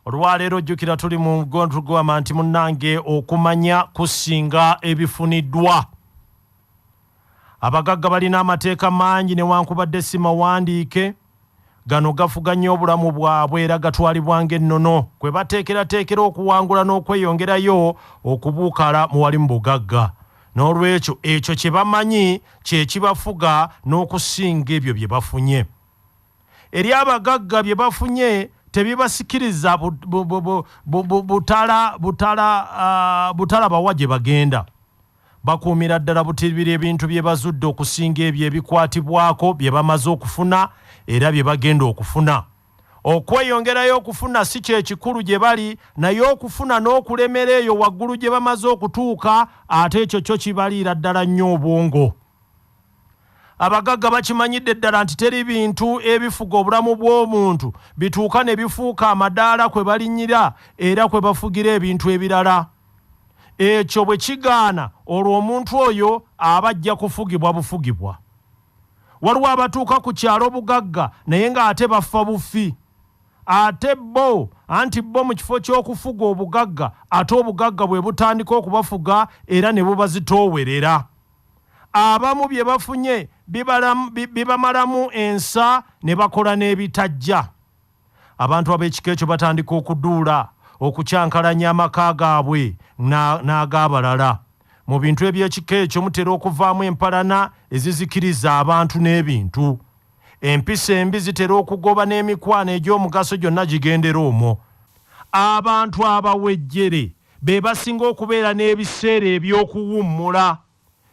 olwaleero jjukira tuli mu gondrugwama nti munnange okumanya kusinga ebifuniddwa abagagga balina amateeka mangi newankubadde si mawandiike gano gafuga nnyo obulamu bwabwe era gatwalibwa ng'ennono kwe bateekerateekera okuwangula n'okweyongerayo okubuukala mu wali mu bugagga n'olwekyo ekyo kye bamanyi kye kibafuga n'okusinga ebyo bye bafunye eri abagagga bye bafunye tebibasikiriza butalabawa gye bagenda bakuumira ddala butibira ebintu bye bazudde okusinga ebyo ebikwatibwako bye bamaze okufuna era bye bagenda okufuna okweyongerayo okufuna si kyekikulu gye bali naye okufuna n'okulemera eyo waggulu gye bamaze okutuuka ate ekyo kyo kibaliira ddala nnyo obwongo Abagagga bakimanyidde ddala nti teri bintu ebifuga obulamu bw'omuntu bituuka ne bifuuka amadaala kwe balinyira era kwe bafugira ebintu ebirala. Ekyo bwe kigaana olwo omuntu oyo aba ajja kufugibwa bufugibwa. Waliwo abatuuka ku kyalo bugagga naye ng'ate bafa bufi. Ate bo anti bo mu kifo ky'okufuga obugagga ate obugagga bwe butandika okubafuga era ne bubazitoowerera. abamu bye bafunye bibamalamu ensa ne bakola n'ebitajja abantu ab'ekika ekyo batandika okuduula okukyankalanya amaka gaabwe n'ag'abalala mu bintu eby'ekika ekyo mutera okuvaamu empalana ezizikiriza abantu n'ebintu empisa embi zitera okugoba n'emikwano egy'omugaso gyonna gigendera omwo abantu abawejjere be basinga okubeera n'ebiseera eby'okuwummula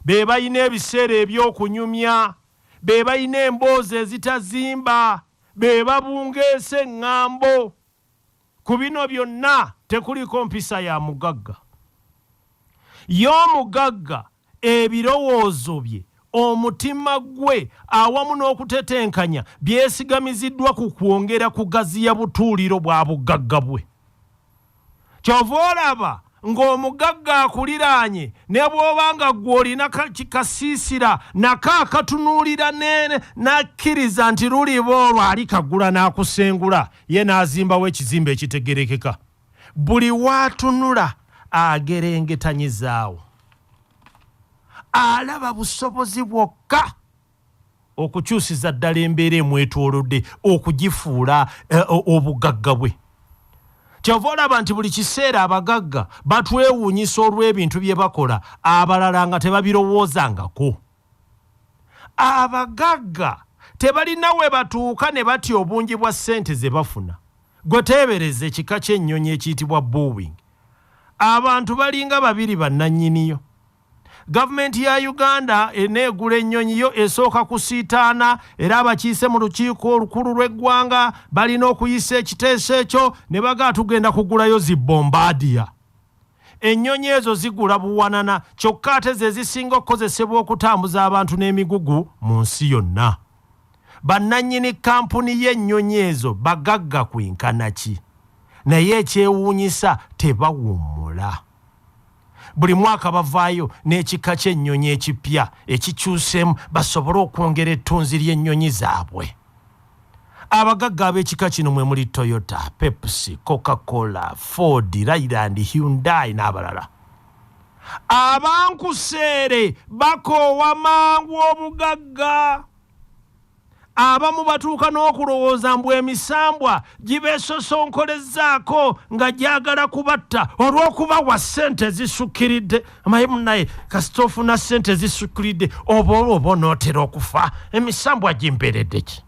be balina ebiseera eby'okunyumya, be balina emboozi ezitazimba, be babungeesa eŋŋambo. Ku bino byonna tekuliiko mpisa ya mugagga. Ye omugagga ebirowoozo bye, omutima gwe awamu n'okutetenkanya byesigamiziddwa ku kwongera kugaziya butuuliro bwa bugagga bwe. kyova olaba ng'omugagga akuliraanye ne bw'oba nga ggwe olina kikasiisira nako akatunuulira n'akkiriza nti luliba olwo ali kagula n'akusengula ye n'azimbawo ekizimba ekitegerekeka buli waatunula agerengetanyizaawo alaba busobozi bwokka okukyusiza ddala embeera emwetoolodde okugifuula eh, obugagga bwe kyova olaba nti buli kiseera abagagga batwewuunyisa olw'ebintu bye bakola abalala nga tebabirowoozangako abagagga tebalina we batuuka ne batya obungi bwa ssente ze bafuna gwe teebereza ekika ky'ennyonyi ekiyitibwa boowing abantu balinga babiri bannannyiniyo Gavumenti ya Uganda eneegula ennyonyi yo esooka kusiitaana era abakiise mu lukiiko olukulu lw'eggwanga balina okuyisa ekiteeso ekyo ne bagaa tugenda kugulayo zi bombaadiya. Ennyonyi ezo zigula buwanana kyokka ate ze zisinga okukozesebwa okutambuza abantu n'emigugu mu nsi yonna. Bannannyini kkampuni y'ennyonyi ezo bagagga kwenkana ki? Naye ekyewuunyisa tebawummula. buli mwaka bavaayo n'ekika ky'ennyonyi ekipya ekikyuseemu basobole okwongera ettunzi ly'ennyonyi zaabwe abagagga ab'ekika kino mwe muli toyota pepsi coca cola ford ryland hyundai n'abalala abankuseere bakoowa mangu obugagga abamu batuuka n'okulowooza mbu emisambwa gibeesosonkolezzaako nga gyagala kubatta olw'okubawa ssente ezisukkiridde amaye munaye kasita ofuna ssente ezisukkiridde oba olwo oba onootera okufa emisambwa gimperedde ki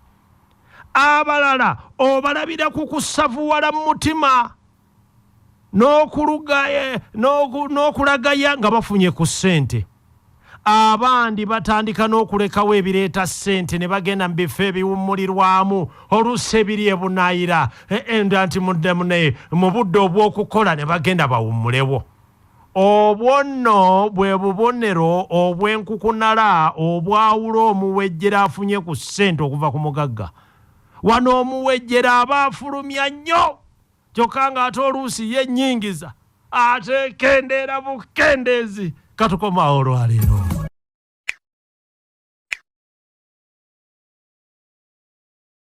abalala obalabira ku kusavuwala mu mutima Eh, n'okulagaya nga bafunye ku ssente abandi batandika n'okulekawo ebireeta ssente ne bagenda mu bifo ebiwummulirwamu oluusi ebiri ebunaayira eh, eh, nda nti mudemune mu budde obw'okukola ne bagenda bawummulewo obwo nno bwe bubonero obw'enkukunala obwawula omuwejjera afunye ku ssente okuva ku mugagga wano omuwejjera aba afulumya nnyo kyokka ng'ate oluusi ye nnyingiza ate kendeera bukendeezi katukomaawo olwaleero